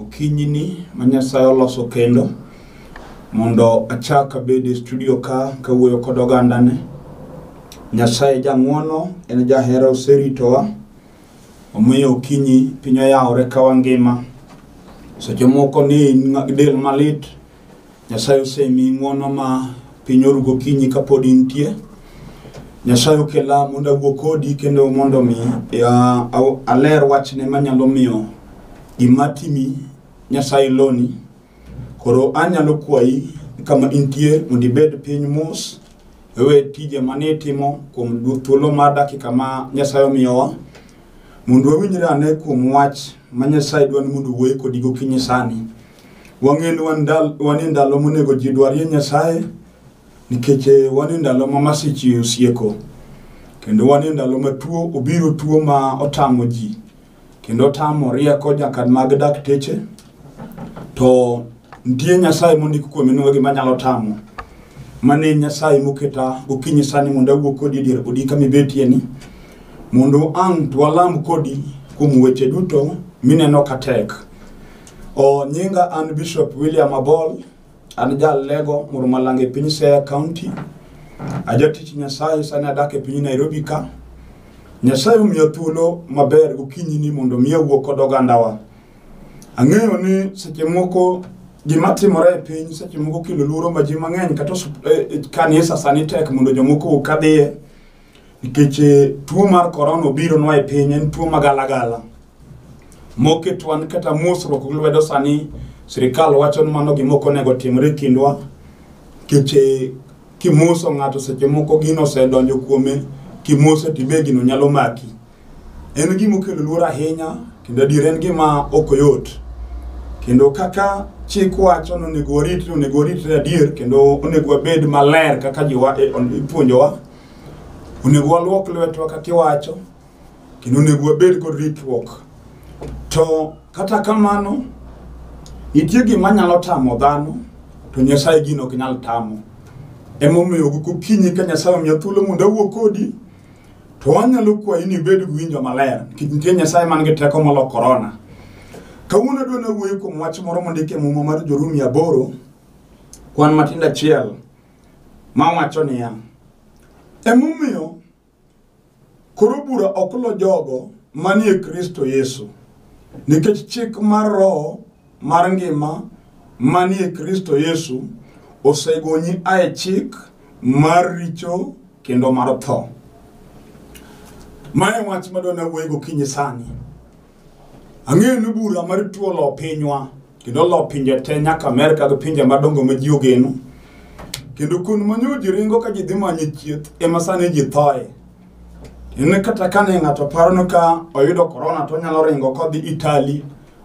Okinyini ma Nyasaye oloso kendo mondo achak abed e studio ka kawuoyo kod ogandane. Nyasaye jang'wono en jahera oseritowa omiyo okinyi piny oyawore ka wangima. Seche moko ni in ng'a- del malit Nyasaye osemi ng'wono ma piny oru gokinyi kapod intie. Nyasaye okela mondo awuo kodi kendo mondo mi ya- aw- aler wachne manyalo miyo gima timi Nyasaye loni. Koro anyalo kwayi kama intie mondo ibed piny mos ewe tije mane itimo kuom du- thuolo mar dakika ma Nyasaye omiyowa mondo wawinjre ane kuom wach ma Nyasaye dwani mondo wuoye kodi gokinyi sani. Wang'eyo ni wan ndal- wan e ndalo monego ji dwarie Nyasaye nikech eh, wan e ndalo ma masiche osieko kendo wan e ndalo ma tuo obiro tuo ma otamo ji kendo otamo rieko nyaka mag dakteche to nitie Nyasaye mondik kuome ni gima nyalo tamo mane Nyasaye moketa gokinyi sani mondo awuo kodi dier odi kama ibetie ni mondo ang' to walam kodi kuom weche duto mineno ka tek O nyinga an Bishop William Abol, an jal Lego, Murumalanga e piny Siaya County. Ajatich Nyasaye sani adak e piny Nairobi ka. Nyasaye omiya thuolo maber gokinyi ni mondo mi awuo kod ogandawa. Ang'eyo ni seche moko gima timore e piny seche moko kelo luoro ma ji mang'eny kata osup- eh, eh, kanisa sani tek mondo jomoko okadhiye nikech eh, tuo mar korona obironwa e piny en tuo magalagala moketwa ni kata mosruok gi lwedo sani sirikal wacho ni mano gima ok onego timre e kindwa nikech eh, kimoso ng'ato seche moko gino osedonjo kuome kimose tibe gino nyalo maki En gima okelo luor ahinya kendo adier en gima ok oyot. Kendo kaka chik wacho ni onego waritre, onego waritre adier kendo onego wabed maler kaka jiwa e- on- ipuonjowa. Onego waluok lwetwa kaka iwacho kendo onego wabed kod ritruok. To kata kamano, nitie gima nyalo tamo dhano to Nyasaye gino ok nyal tamo. Emomiyo gokinyi ka Nyasaye omiya thuolo mondo awuo kodi, To wanyalo kwayi ni ibed gi winjo maler nikech nitie Nyasaye man gi teko molo korona. Kawuono adwa nawuoyo kuom wach moro mondik e muma mar Jorumi aboro kwan matindo achiel ma wacho niya, emomiyo koro bura ok lo jogo manie Kristo Yesu nikech chik mar Roho mar ngima manie Kristo Yesu osegonyi ae chik mar richo kendo mar tho. Mae wach madwa nawuoye gokinyi sani. Ang'eyo ni bura mar tuo lo pinywa kendo lo pinje te nyaka Amerka gi pinje madongo ma ji ogeno. Kendo kun manyo ji ringo ka ji dhi manyo chieth ema sani ji thoye. En kata kane ng'ato parono ka oyudo korona to onyalo ringo kodhi Itali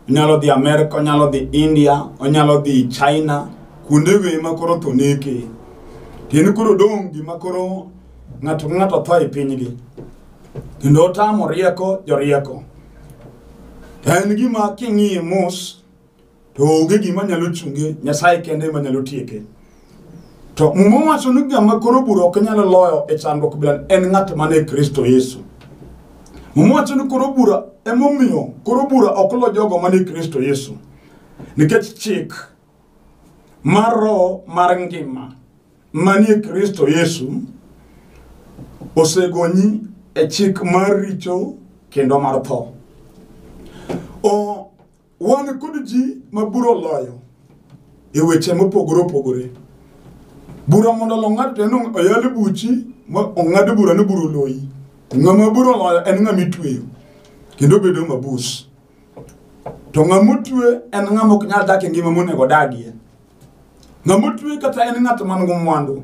onyalo dhi Amerka, onyalo dhi India, onyalo dhi China, kuonde go ema koro to neke. Kendo koro dong' gima koro ng'ato ka ng'ato tho e pinygi. Kendo otamo rieko jorieko. To en gima king'iye mos to onge gima nyalo chunge, Nyasaye kende ema nyalo tieke. To Muma wacho ni ng'ama koro bura ok nyal loyo e chandruok bila en ng'at man e Kristo Yesu. Muma wacho ni koro bura emomiyo koro bura ok lo jogo man e Kristo Yesu. Nikech chik mar roho mar ngima manie Kristo Yesu osegonyi e chik mar richo kendo mar tho. O Wan kod ji ma bura oloyo e weche mopogore opogore. Bura mondo olo ng'ato to en ong- oyal buchi ma ong'ad bura ni bura oloyi. Ng'ama bura oloyo en ng'ama itweyo kendo bedo mabus. To ng'ama otwe en ng'ama ok nyal dak e ngima monego odagie. Ng'ama otwe kata en ng'at man gi mwandu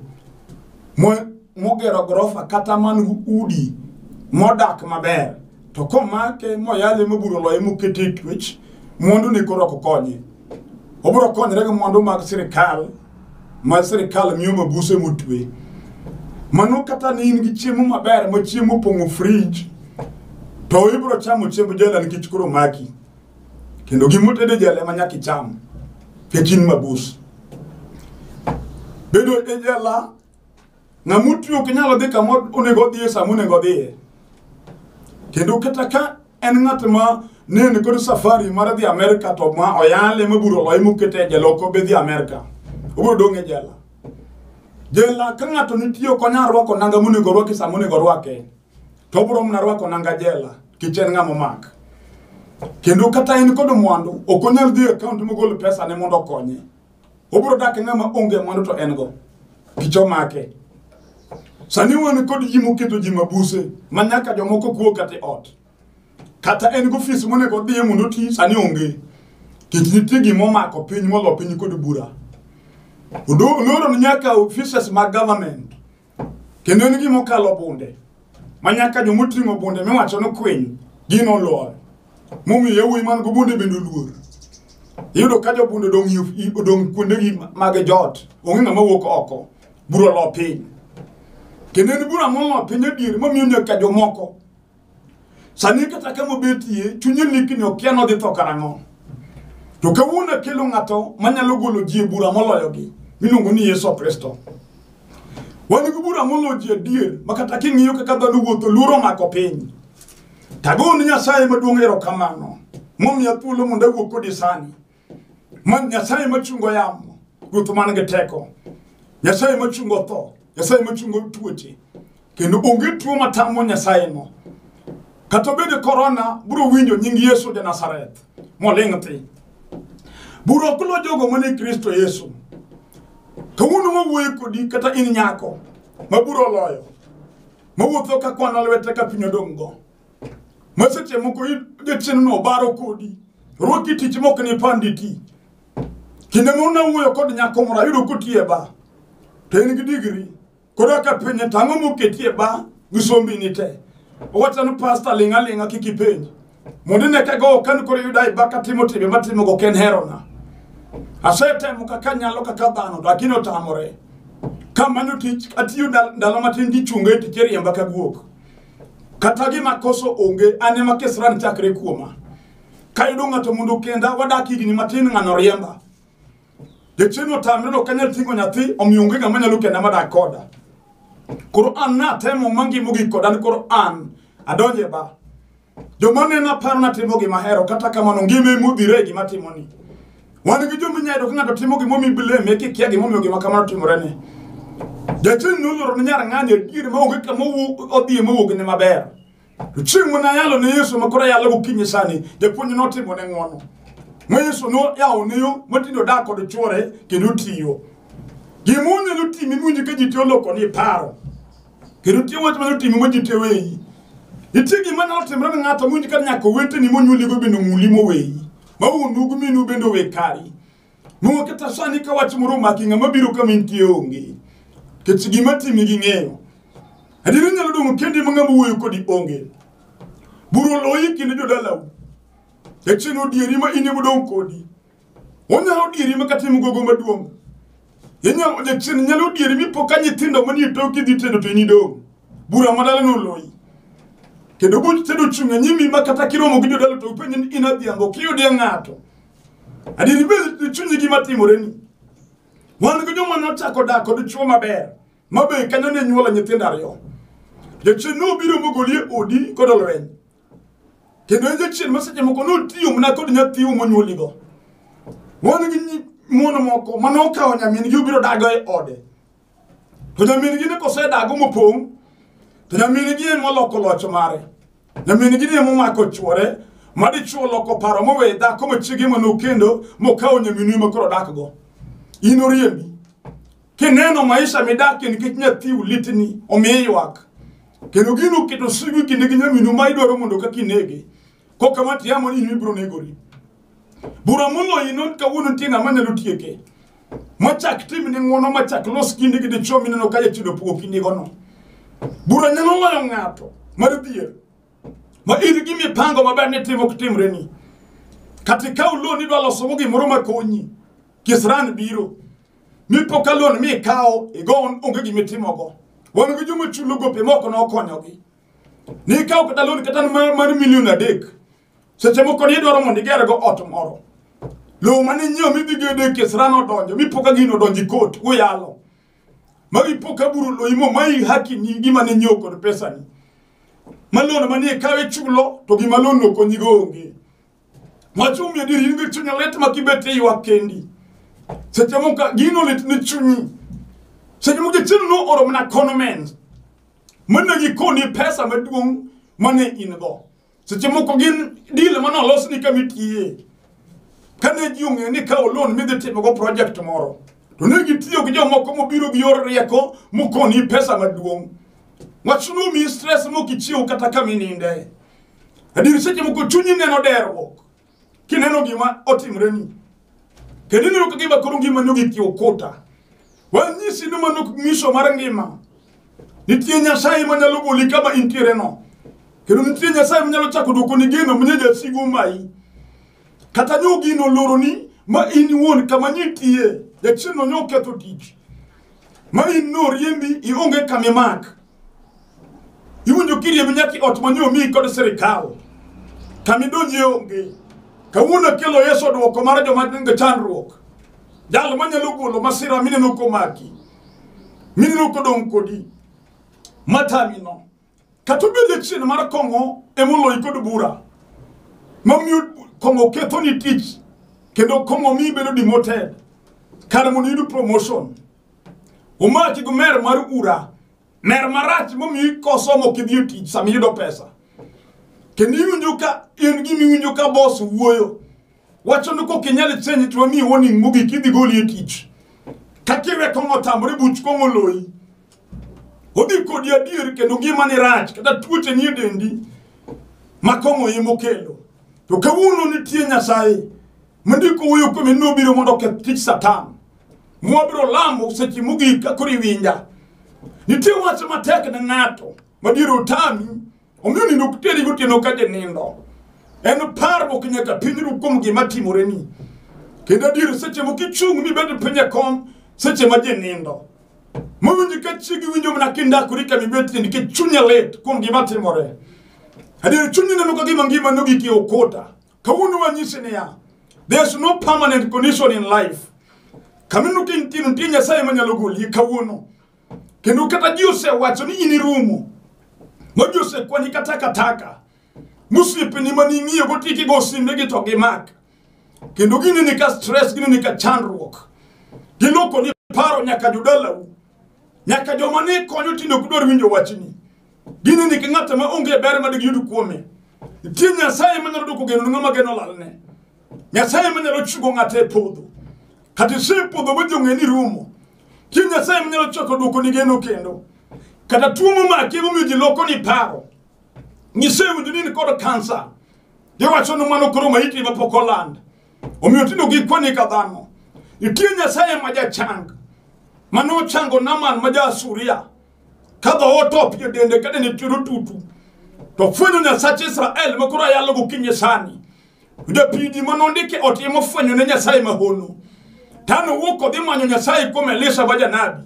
mo- mogero gorofa kata man gi udi modak maber to komake moyale moburo loye mokete e twech mwandu ne koro ok konye obiro konyore gi mwandu mag sirikal ma sirikal miyo mabuse motwe mano kata ne in gi chiemo maber ma chiemo opong'o frij to ibiro chamo chiemb jela nikech koro maki kendo gima otedo e jela ema nyaka icham nikech in mabus bedo e jela ng'ama otwi ok nyalo dhi kama onego odhiye sama onego odhiye kendo kata ka en ng'at ma ne en kod safari mar dhi Amerka to ma oyale ma buro loye mokete e jela ok obi dhi Amerka obiro dong' e jela jela ka ng'ato nitie ok onyal rwako nanga monego orwaki sama onego orwake to obiro mana rwako nanga jela kech en ng'ama omak kendo kata en kod mwandu ok onyal dhi e akaont mogol pesane mondo okonye obiro dak e ng'ama onge mwandu to en go kech omake sani wan kod ji moketo ji mabuse ma nyaka jomoko kuo kata e ot kata en gofis monego odhiye mondo oti sani onge kech nitie gima omako piny molo piny kod bura oloro ni nyaka offices mag government Kendo en gima okalo bunde, ma nyaka joma oting'o bunde miwacho ni kwiny gin oloyo. Momiyo yawuoyi man go bunde bende oluor. Iyudo ka jobunde odong' yo- i- odong' kuondegi mag joot, onge ng'ama wuok oko, bura olo piny. Kendo en bura molo piny adier, momiyo nyaka jomoko Sani kata ka mobetie chunye lik ni okia nodhi tho karang'o. To kawuono akelo ng'ato manyalo golo ji e bura moloyogi miluongo ni Yesu Kristo. Wan gi bura moloyo ji adier ma kata king'iyo kaka dhano wuotho luoro mako piny. Tago ni Nyasaye maduong' erokamano momiya thuolo mondo awuo kodi sani. Man Nyasaye machungo yamo, Ruoth man gi teko. Nyasaye machungo tho, Nyasaye machungo tuoche. Kendo onge tuo matamo Nyasaye no. Kata bende korona biro winjo nying Yesu ja Nazareth moling' thi. Biro kulo jogo mane Kristo Yesu. Kawuono wawuoyo kodi kata in nyako ma biro loyo. Mawuotho ka kwana lwete ka piny odong'go. ma seche moko jachiendno obaro kodi rwaki tich mok ni panditi kinde ma unawuoyo kod nyako moro ayudo kotiye ba to en gi digri koro aka penye tang'o moketie ba gi sombini te owacha ni pasta ling' aling'a kik ipenj mondo ine ka gowo kani koro yuda e ba katimo timbe matimogo ok en herona asetemo kaka nyalo kaka dhano lakini otamore kamanyo tich atiyo ndalo matin gichunga e tich eriemba ka guok kata gima koso onge an ema kesran chakre kuoma kayudo ng'ato mondo kenda wadak higni matin ng'ano riemba jachieni otamre no kanyal ting'o nyathi omiyo onge ng'ama nyalo kenda madak koda koro an natemo mangimo gi koda ni koro an adonje ba joma nena paro natimo gima hero kata kamano ngima emodhire e gima timoni Wan gi joma inyalo ka ng'ato timo gimomiyo ibileme kikia gimomiyo gima kamano timorene. Jachien noloro ne nyar ng'ani adier maonge kama owuok- odhiye mowuog ne maber. To chieng' mane ayalo ne Yesu makoro ayalo gokinyi sani, japuonj notimo ne ng'wono. Ma Yesu noyawo ne yo matindo dak kod chwore kendo tiyo. Gima onyalo timi miwinjo ka ji tiyo loko ni paro. Kendo tiyo wach manyalo timi ma ji tiyo weyi. Nitie gima nyalo timre ne ng'ato miwinjo ka nyaka oweteni monyuoligo bende omuli moweyi. ma wuonu gi minu bende owe kari nung'o kata sani ka wach moro omaki ng'ama biro kama intie onge kech gima timi gi ng'eyo adiera inyalo dong' kendi ma ng'ama wuoyo kodi onge buru oloyi kinde jodalau kech en odieri ma in emodong' kodi onyalo odieri ma kata im gogo maduong' Inyalo jachien nyalo dieri mi po ka nyithindo manie toki dhi tedo to inido. Bura madala no loyi. Kendo buch tedo chung' e nyimi ma kata kiromo gi jodala to upenj ni in adhiambo kiyudie ng'ato. Adieri bed chunyi gima timore ni. Wan gi joma nochako dak kod chwo maber ma be kanyo ne nyuola nyithindo ariyo. Jachien no biro mogolie odi kod olweny. kendo en jachien ma seche moko notiyo mana kod nyathiu monyuoligo wan gi nyi- mon moko ma nokawo nyamin-gi obiro dago e ode to nyamin-gi ne kosedago mopong' to nyamin-gi en moloko loch mare nyamin-gi ni emomako chwore ma dichwo loko paro mowe dhako machiege ma nokendo mokawo nyaminwe ma koro dakgo in oriembi Kineno maisha midakie nikech nyathiu litni, omiyo ywak. Kendo gino keto sigu kinde gi nyaminu ma idwaro mondo ka kinege. Kok kama tiamo ni in ibiro negori. Bura moloyi not kawuono nitie ng'ama nyalo tieke. Machak tim ne ng'wono machak los kinde gi dichwo mineno ka jachido pogo kindigono. Bura nyalo loyo ng'ato mar dhier. Ma in gi mipango maber ni timo kitimre ni. Kata ikaw lo ni idwa losogo gimoro makonyi. Kisran biro. Mipo ka loan mi ikawo igon onge gima itimogo. Wan gi joma chulo gope moko ne okonyogi. Ni ikawo kata loan kata mar mar milion adek. Seche moko ni idwaro mondo igergo ot moro. Lowo mane inyiewo midhi gedo e kes rano odonjo mipo ka gino odonjo e kot uyalo. Ma ipo ka buru loyi mo ma i haki ni gima ne inyiewo kod pesani. Ma loan mane ikawo ichulo to gima loan no konyigo onge. Wachumi adier in gi chunya lit ma kibet e ywak kendi. Seche moko gino lit ni chunyi. Seche moko jachien no oro mana kono men. Mana gikoni pesa maduong' mane in go. Seche moko gin deal mane olos ni kama itiye. Kane ji ong'eyo ni kawo loan midhi timogo project moro. To ne gitiyo gi jomoko mobiro gi yor rieko mokoni pesa maduong'. Wach no mi stress mokichiew kata kama ininde. Adier seche moko chunyi neno deruok kineno gima otimre ni. Kendo ineno ka gima koro ngima no gik okuta. Wanyisi ni mano ok nyiso mar ngima. Nitie Nyasaye ma nyalo goli kama intiere no. Kendo nitie Nyasaye ma nyalo chako dwoko ni geno mnye jasigu mai. Kata nyo gino loro ni ma in iwuon kama nitie. Jachieno nyo ketho tich. Ma in no riembi ionge kama imak. iwinjo kiriemb nyaka i ot mane omiyi kod sirikal kama idonjie onge kawuono akelo yesu odwoko mar joma nigi chandruok jal manyalo golo masira mineno komaki mineno kodong' kodi matamino kata obed achiel mar kong'o emoloyi kod bura mamiyo kong'o kethoni tich kendo kong'o miyi bedo demoted kar mondo iyud promotion Omaki gi mer mar ura. Mer marach momiyi kosomo kidhi e tich sama iyudo pesa. Kendo iwinjo ka in gima iwinjo ka boss wuoyo. Wacho ni kok inyal change to wamiyi warning mogik idhi goli e tich. Kakiwe kong'o tamre buch kong'o loyi. Odhi kodi adier kendo ngima ni rach kata tuoche ni e dendi ma kong'o emo kelo. To kawuono nitie Nyasaye. ma ndiko wuoyo kuome nobiro mondo oketh tich satan mwabiro lamo seche mogik ka koro iwinja nitie wach matek ne ng'ato madier otami omiyo nindo ok teri gotieno ka jinindo en parruok nyaka pinyru kuom gima timoreni kendo adier seche moko ichung' mibed piny e kom seche ma jinindo mawinji ka chiegi winjo mana kindakori ka mibetie nikech chunye lit kuom gima timore adier chunyi neno ka gima ngima nogiki okuta kawuono wanyisi niya there's no permanent condition in life kamineno ka intieno nitie nyasaye manyalo goli kawuono kendo kata ji osewacho ni in irumo ma ji osekwani ka takataka mosiepeni ma ning'iyo gotiki go simbegi to gimak kendo gineni ka stress gineni ka chandruok gilokoni paro nyaka jodalau Nyaka joma ne konyo tinde ok dwar winjo wachni. Gineni ka ng'at ma onge ber ma digiyud kuome. Nitie Nyasaye ma nyalo dwoko geno ni ng'ama geno lalne. Nyasaye ma nyalo chigo ng'ato e podho. Kata ise podho ma jong'e ni rumo. Nitie Nyasaye ma nyalo chako dwoko ni geno kendo. Kata tuo momaki emomiyo ji loko ni paro. Nyise winjo ni in kod kansa. Iwacho ni mano koro maiti ma pok oland. omiyo tinde ok ikwane ka dhano nitie nyasaye ma jachang ma nochango naman ma ja asuria ka dhoot opie dende kade nitie otutu to fwenyo nyasach israel ma koro ayalo gokinyi sani japidi ma nondike otimo fwenyo ne nyasaye mahono tano wuok odhi manyo nyasaye kuom elisha ma janabi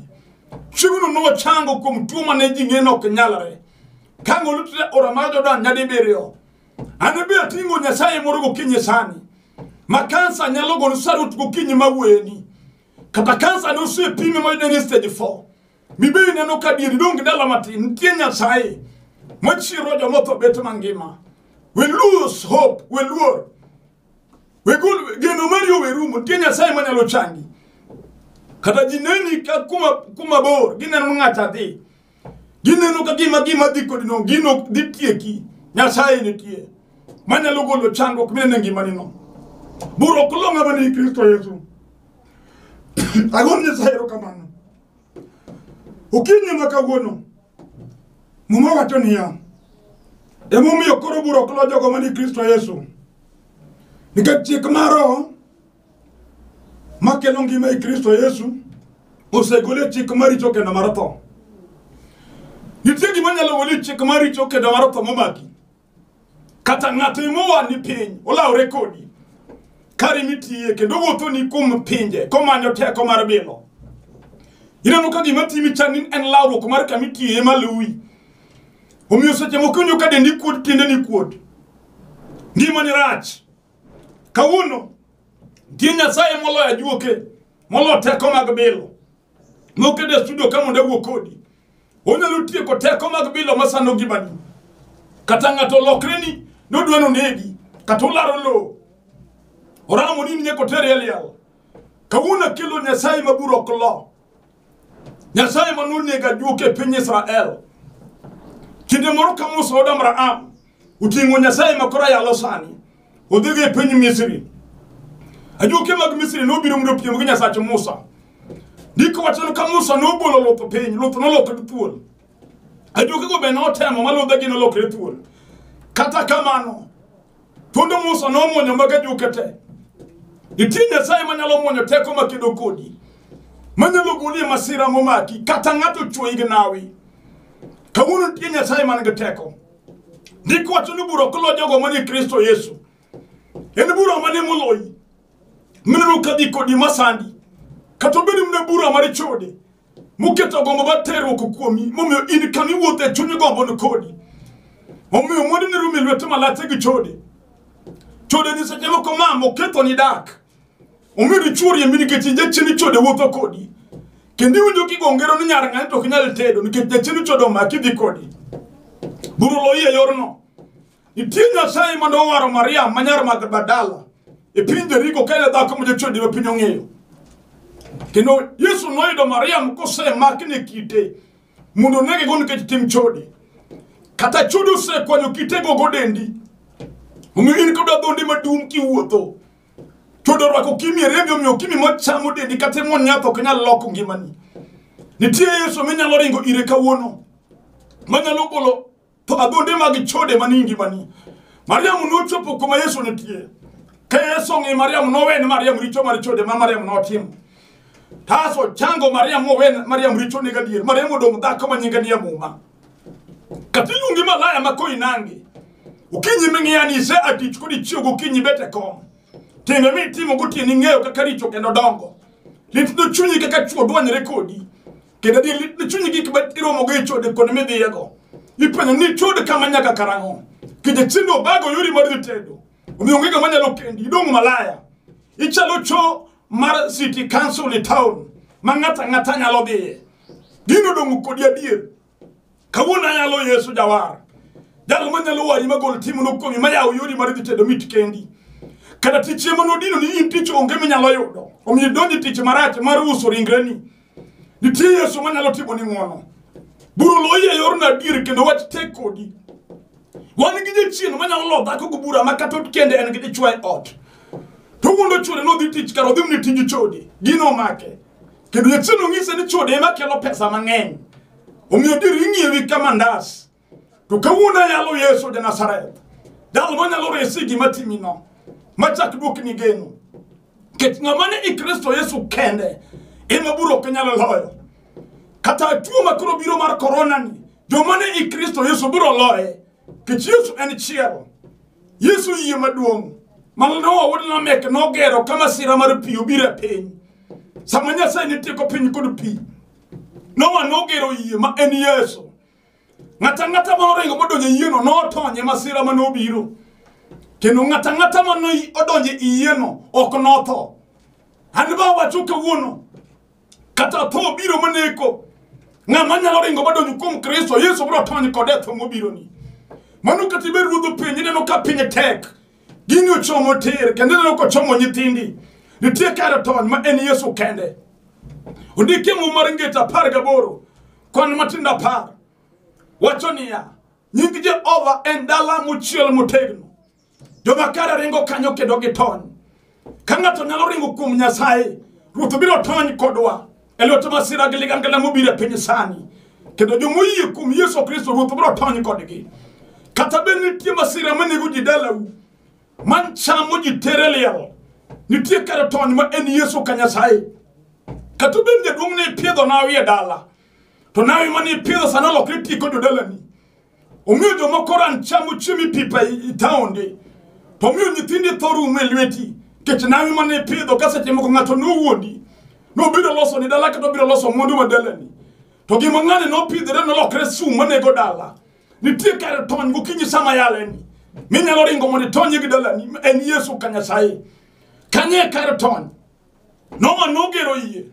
chiegno nochango kuom tuo mane ji ng'e ni ok nyalre ka ng'olutre ora mar jordan nyadibiriyo Anabi atingo nyasaye moro gokinyi sani. Ma kansa nyalo golo sarut gokinyi ma weni. Kata kansa ne osepime ma yudeni stage 4. Mibe ineno ka dieri donge dala matin. Nitie nyasaye. Machiro jomotho bet mangima. We lose hope. We luor. We gol geno mari owe rumo. Nitie nyasaye manyalo changi. Kata ji neni ka kuma, kuma bor. Gineno ng'acha dhi. gineno ka gima gima dhi kodino gino ok dhi tieki nyasaye nitie manyalo golo chandruok minene ngimanino buro kulo ng'ama ni kristo yesu agon nyasaye erokamano okinyi ma kawuono muma wacho niya emomiyo koro buro kulo jogo mani kristo yesu nikech chik maro makelo ngima e kristo yesu osegole chik maricho kendo mar tho nitie gima nyalo gole chik maricho kendo mar tho momaki kata ng'ato imowa ni piny olawre kodi kari mitiye kendo wuotho ni kuom pinje komanyo teko mar bilo ineno ka gima timi chani en lawruok mar kama itiye maluwi omiyo seche moko inyo ka dendi kuot tiende ni kuot ngimani rach kawuono nitie nyasaye moloyo ajuoke moloyo teko mag bilo mokete e studio ka mondo awuo kodi onyalo tieko teko mag bilo masano ngimani kata ng'ato olokreni nodwa nonegi kata olaro lowo oramo ni ninyako tere e liel kawuono akelo nyasaye maburo ok lo nyasaye ma nonego ajuok e piny israel kinde moro ka musa od abraham oting'o nyasaye ma koro ayalo sani odhigo e piny misri ajuoke mag misri nobiro mondo opiem gi nyasach musa ndiko wachano ka musa nobolo luth piny luth nolokre thuol ajuokego be notemo ma ludhegi nolokre thuol kata kamano Thuond Musa nomwonyo maga juke te. Nitie Nyasaye manyalo mwonyo teko makedo kodi, manyalo goli e masira momaki, kata ng'ato chwoyi gi nawi. Kawuono nitie Nyasaye man gi teko. Ndiko wacho ni bura ok lo jogo manie Kristo Yesu. En bura mane moloyi? mineno ka dhi kodi masandi kata obed ni mna bura mar chode muketo gombo mar terruok kuomi momiyo in kama iwuotho e chuny gombo ni kodi omiyo mwandu ni rumi lwete malache gi chode chode ni seche moko mama oketo ni dak omiyo dichuori emi nikech jachini chode wuotho kodi kendo iwinjo kigongero ni nyar ng'ani to ok inyal tedo nikech jachini chode omaki dhi kodi buru loyi e yorno Nitie Nyasaye mane owaro Mariam ma nyar Magdala e piny Jeriko ka en e dhako ma jochode ma piny ong'eyo. Kendo Yesu noyudo Mariam kosemaki ne kite mondo onege go nikech tim chode. Kata chode osekwanyo kitego go dendi. Omiyo in kod adhonde madum kiwuotho. Chode orwako kimi e rembi omiyo kimi machamo dendi kata e mon nyath ok nyal loko ngimani. Nitie Yesu minyalo ringo ire kawuono manyalo golo to adhonde mag chode manie ngimani mariam nochopo kuma yesu nitie ka yesu ong'e mariam nowen mariam richo mar chode ma mariam notimo taso chango mariam mowen mariam richo ne gadier mariam odong' dhako ma nyinge ni amuma kata iluongi malaya ma koinange okinyi ming'iyani ise atich kod ichiew gokinyi bet e kom timbe mitimo gotieni ng'eyo kaka richo kendo dongo litno chunyi kaka chwo dwanyre kodi kendo di lit ni chunyi gik ma iromogo e chode kod midhiyego ipenyo ni chode kama nyaka karang'o kije chindo obago yori mar dhi tedo omiyo onge ng'ama nyalo kendi idong' malaya ichalo cho mar city council e town ma ng'ato ang'ata nyalo dhiye gino dong' kodi adier kawuono ayalo yesu jawar jalo manyalo wari magol timono kuomi mayawo yori mar dhi tedo mit kendi kata tich ema nodino ni in tich onge minyalo yudo omiyo idonji tich marach mar uso ringreni nitie yesu manyalo timo ni ng'wono bura oloyi e yorno adier kendo wach tek kodi wan gi jachien manyalo lo dhako gi bura ma kata kende en gi dichwa e ot to wuondo chode nodhi tich kar odhi mni tiji chode gino omake kendo jachien ong'ise ni chode ema kelo pesa mang'eny omiyo dir ing'iewi ka mandas to kawuono ayalo yesu janazareth jal manyalo resi gima timino machak duokni geno nikech ng'ama ni i kristo yesu kende ema buro ok nyalo loyo kata tuo ma koro biro mar korona ni joma ni i kristo yesu biro loye nikech yesu en chiero yesu yie maduong' manoa wuod lamek nogero ka masira mar pi obiro e piny sama nyasaye ne tieko piny kod pi noa nogero yie ma en yesu Ng'ato ang'ata ma oringo modonjo e yieno notony e masira ma nobiro. Kendo ng'ato ang'ata ma noi- odonjo e yieno ok notho. An be awacho kawuono, kata tho biro maneko. Ng'ama nyalo ringo modonjo kuom Kristo, Yesu biro tony kode e tho mobironi. Mano kata ibed ruodh piny, ineno ka piny tek. Gini ochomo tir, kendo ineno ka ochomo nyithindi. Nitie kar tony ma en Yesu kende. Ondikie muma mar ngeta apar gaboro Kwan matindo apar wacho niya, nying Jehova en dala mochiel motegno. Joma kare ringo kanyo kendo gitony. Ka ng'ato nyalo ringo kuom Nyasaye, Ruoth biro tony kodwa e lwet masira gi ligangla mobiro e piny sani. Kendo joma oyie kuom Yesu Kristo, Ruoth biro tony kodgi. Kata bed nitie masira manego ji dalau, man chamo ji tere liel nitie kare tony ma en yesu ka nyasaye kata obed jaduong' ne ipiedho nawi e dala to nawi mane ipiedho sani olokre ti kod jodalani omiyo jomoko ran chamo chiemo ipipa i taonde to omiyo nyithindi tho rumo e lweti kech nawi mane ipidho ka seche moko ng'ato nowuondi nobiro loso ni dala kata obiro loso mwandu ma dalani to gima ng'ani nopidhore nolokre sum manego dala nitie kar tony gokinyi sama yaleni minyalo ringo mondo itony gi dalani en yesu ka nyasaye kanye kar tony noma nogero yie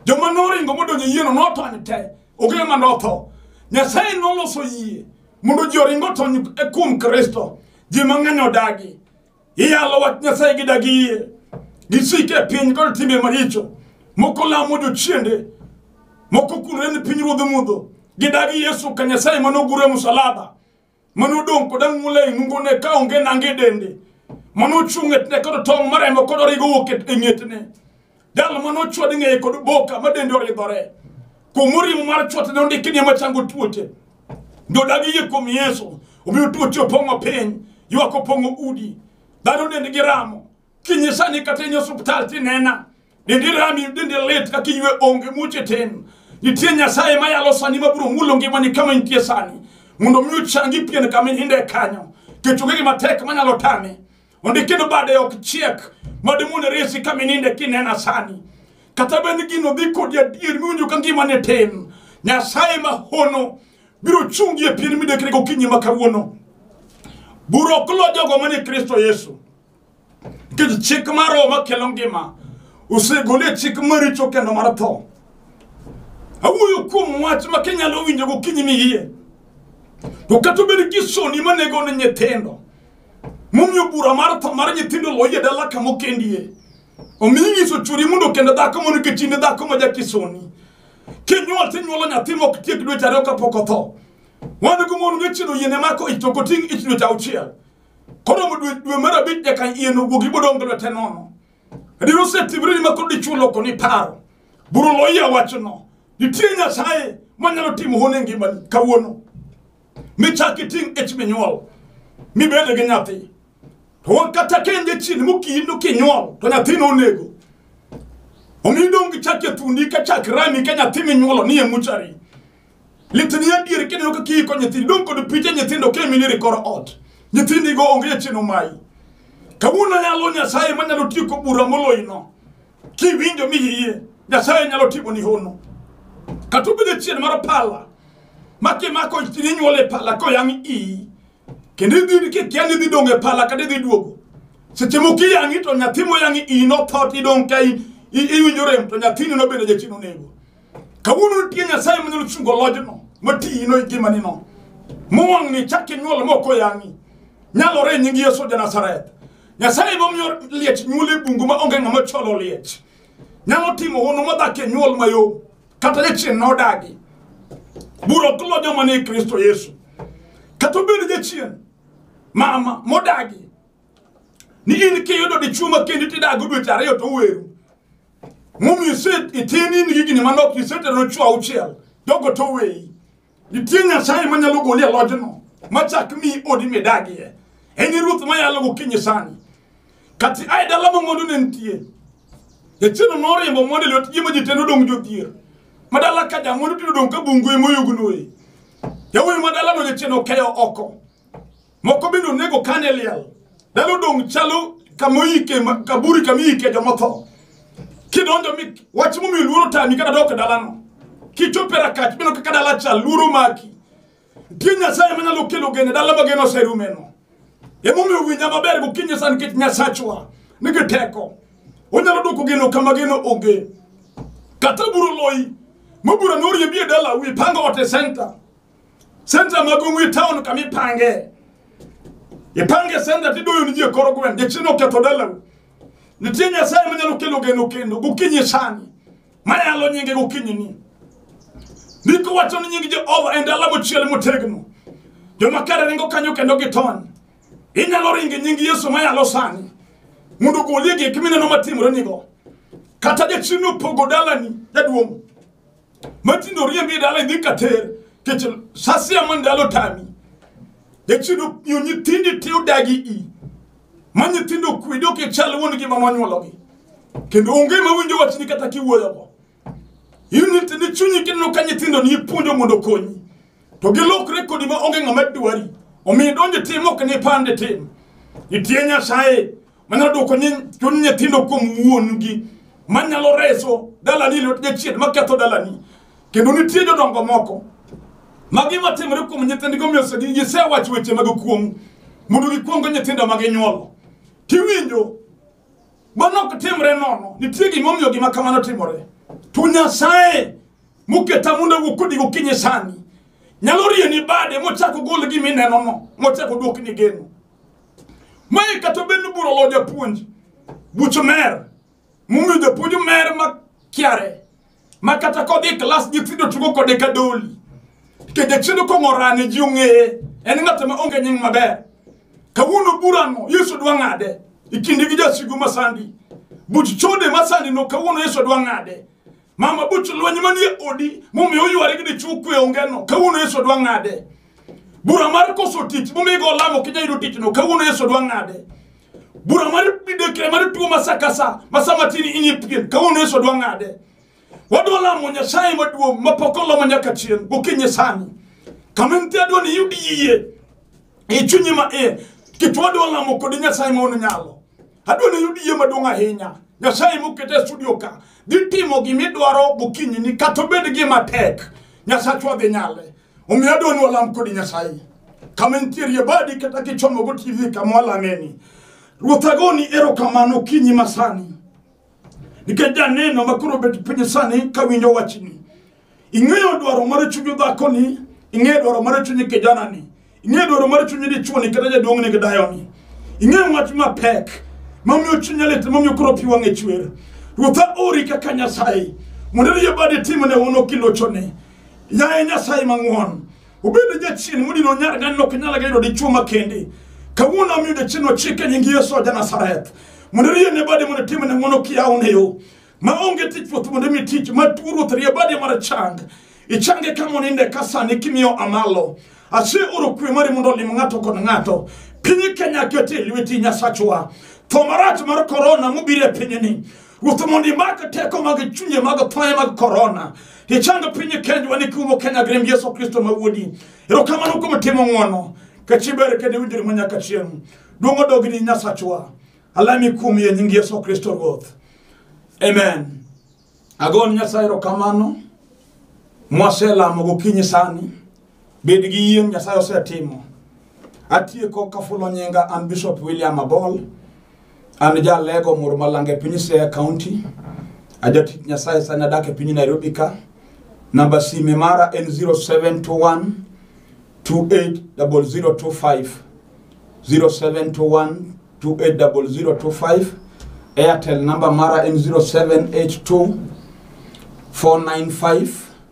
joma noringo modonjo yieno notony te ogero ma notho nyasaye noloso yie mondo ji oringo tony kuom kristo ji mang'eny odagi iyalo wach nyasaye gi dagi yie gisik e piny kod timbe maricho moko lamo jochiende moko kulore ni piny ruodho mudho gidagi yesu ka nyasaye mane ogure musalaba mane odong' kod ang'ula e nungone ka onge nange dende mane ochung' e tine kod tong' maremo kod origo wuok e ng'etne jal ma nochwad ng'eye kod boka ma dende oridhore kuom orimo mar chwat ne ondiki ni ema chango tuoche jodagi yie kuom yesu omiyo tuoche opong'o piny ywak opong'o udi dhano dendgi ramo kinyi sani kata inyo osuptal tinena dendi rami dendi lit kaka iywe onge muche tin nitie nyasaye mayalo sani mabiro mulo ngimani kama intie sani mondo mi ochangi pien kama ininde kanyo kech onge gima tek manyalo tame Onde kendo bade ok chiek madi mondo resi ka mininde kinena sani. Kata bende gino dhi kodi adier miwinjo ka ngima ne tin. Nyasaye ma hono biro chungi e pien midekre gokinyi ma kawuono. Bura ok lo jogo manie Kristo Yesu. Nikech chik mar Roho makelo ngima osegole chik maricho kendo mar tho. Awuoyo kuom wach ma kinyalo winjo gokinyi ni iye. To kata obed kisoni manego ne nyithindo. momiyo bura mar tho mar nyithindo loye dala kama okendie omi inyiso churi mondo kendo dhako mondo nikech in e dhako ma jakisoni kinyuol tinyuolo nyathi mok tiek dweche ariyo kapok otho wan go mon ngechino yiene mako ich to ok oting' ich dweche auchiel koromo dwe dwe mar abich nyaka yien owuog ibodong' gi lwete nono adier osetimre ni ma koro dichwo loko ni paro buru loyia wachno nitie nyasaye manyalo timo hone ngimani kawuono michak iting' ich minyuol mibede gi nyathi to wan kata kende chien mokindo kinyuol to nyathino onego omi idong' gi chak e thundi ka chak rami ka nyathi minyuolo ni e muchari litni adier kineno kaka iiko nyithindo idong' kod piche nyithindo ka emiliro e kor ot nyithindigo onge e chien omayi kawuono yalo nyasaye manyalo tieko bura moloyino Kiwinjo mi iyie, Nyasaye nyalo timo ni hono. Kata obedo chien mar pala, ma kimako inyuol e pala koyang' iyi, kendo idhi kikia ni idhi dong' e pala kata idhi duogo. Seche moko iyang'i to nyathi moyang' iyi notho to idong' ka i- i- iwinjo rem to nyathini nobende jachien onego. Kawuono nitie Nyasaye manyalo chungo lojno matiyino e ngimanino. Mowang'ni chak inyuol mok oyang'i. Nyalore e nying Yesu ja Nazareth. nyasaye emomiyo liech nyuol e bungu ma onge ng'ama cholo liech nyalo timo hono modak e nyuol mayom kata jachien na odagi bura ok lo joma ni e kristo yesu kata obed jachien mama modagi ni in kiyudo dichuo ma kendi tidago dweche ariyo to weru momiyo ise- itini in higni manok iseterone chuo auchiel jogo to weyi Nitie Nyasaye ma nyalo goli e lojno, ma chak mi odi midagie. En e ruoth ma yalo gokinyi sani. Kati ae dala ma mwandu ne nitie. Jachieno noriembo mwandu e lwet ji ma ji te nodong' jodhier. Ma dala ka jamwandu tinde odong' ka bungu e moyugnoe. Yawuoyi ma dalano jachieno okeyo oko. moko bende onego kane liel dalo dong' chalo kamoyike ma- kaburi kamiyike jomotho kidonjo mi wach momiyo luoro tami kata dok e dalano kichopo e rakach bino kaka dala chal luoro maki nitie nyasaye manyalo kelo gene dala ma geno oserumeno emomiyo winja maber gokinyi sa nikech nyasachwa nigi teko onyalo dwoko geno kama geno onge kata buro loyi mobura norie bie dala wi pango ote senta senta maduong' e taon kama ipange ipange senta tidoyo ni ji e kor gweng' jachien oketho dalau nitie nyasaye manyalo kelo geno kendo gokinyi sani mayalo nyinge gokinyi ni ndiko wacho ni nying jehova en dala mochiel motegno joma kare ringo kanyo kendo gitony inyalo ringe nying yesu mayalo sani mondo ogolie gik mineno matimore nigo kata jachien opogo dalani jaduong' matindo oriembi e dala idhi kater kech sasia ma ndalo tami echido yo nyithindi ti odagi i ma nyithindo okwedo kichal wuon gi mama nyuologi kendo onge ma winjo wachni kata kiwuoyogo in nyithindi chunyi kineno ka nyithindo ni ipuonjo mondo okonyi to gilokre kodi ma onge ng'ama dwari omiyo idonjo tim ok ni pande tim itie nyasaye manyalo dwoko chuny nyithindo kuom wuon-gi manyalo reso dalani e lwet jachien maketho dalani kendo nitie jodongo moko ma gima timore kuom nyithindgi omiyo gisewacho weche mag kuong' mondo gikwong go nyithindo ma ginyuolo tiwinjo mano ok timre nono nitie gimomiyo gima kamano timore to nyasaye moketa mondo wuok kodi gokinyi sani nyalo rieni bade mochako gol gima inenono mochako duokni geno Mae kata bed ni bura olo japuonj, buch mer, momiyo japuonj mer ma kiare, ma kata kodhi e klas nyithindo tugo kode ka doli. Ke jachielo kong'orane ji ong'eye, en ng'at ma onge nying maber. Kawuono burano Yesu dwa ng'ade, ikindi gi jasigu masandi. Buch chode masandi no kawuono Yesu dwa ng'ade. mama buch lweny manie odi momiyo oyware gi dichwo kwe ongeno kawuono yesu dwa ng'ade bura mar koso tich momiyo igo lamo kinya yudo tichno kawuono yesu dwa ng'ade bura mar midekre mar tuo ma sa ka sa ma sa matin inyi pien kawuono yesu dwa ng'ade wadwa lamo nyasaye maduong' ma pok olomo nyaka chien gokinyi sani kama entie adwa ni iyud yie e chunyi ma iye kech wadwa lamo kodi nyasaye ma ono nyalo Adwa ni yud yie maduong' ahinya. Nyasaye mokete e studio ka dhi timo gima idwaro gokinyi ni kata obed gima tek. Nyasachwa dhi nyale. Omiyo adwa ni walam kodi Nyasaye. Kama nitiere badi kata kichomo go TV kama walameni. Ruoth agoni erokamano kinyi masani. nikech janeno ma koro obet piny sani ka winjo wachni ing'eyo dwaro mar chuny dhakoni ing'eyo dwaro mar chuny kijanani ing'eyo dwaro mar chuny dichuoni kata jaduong'ni gi dayoni ing'eyo wach mapek mamiyo chuny lit mamiyo koro pi wang'e chwer ruotha ori kaka nyasaye mondo riyo badi timne uno kilochone yaye nyasaye mang'won Obedo jachien mudi no nyar gan nok nyala gaido di chuma kendi. Kawuono omiyo jachien no chike nying Yesu oja Nazareth. Mondo riye ne bade mondo time ne mono kia oneyo. Ma onge tich puoth mondo mi tich ma tuo ruoth riye bade mar chang. Ichange ka moninde ka sani kimiyo amalo. Ase oro kwe mari mondo olim ng'ato kod ng'ato. Piny Kenya kete lweti nyasachwa. Tho marach mar korona mobiro e pinyni. ruoth mondo imake teko mag chunye mag thoye mag korona ichando piny kenjwa ni kiumo kenya grem yesu kristo ma wuodi erokamano kuom timo ng'wono kachiber kendo iwinjori ma nyaka chieng' duong' odogni nyasachwa alami kuom ye nying yesu kristo ruoth amen agon nyasaye erokamano mwaselamo gokinyi sani Bed gi yie Nyasaye osetimo. Atieko kafulo nyinga an Bishop William Abol. An jalego mur malanga e piny Siaya County. Ajatich Nyasaye sani adak e piny Nairobi ka. Namba sime mara en 0721 280025 0721 280025 Airtel namba mara en 0782 495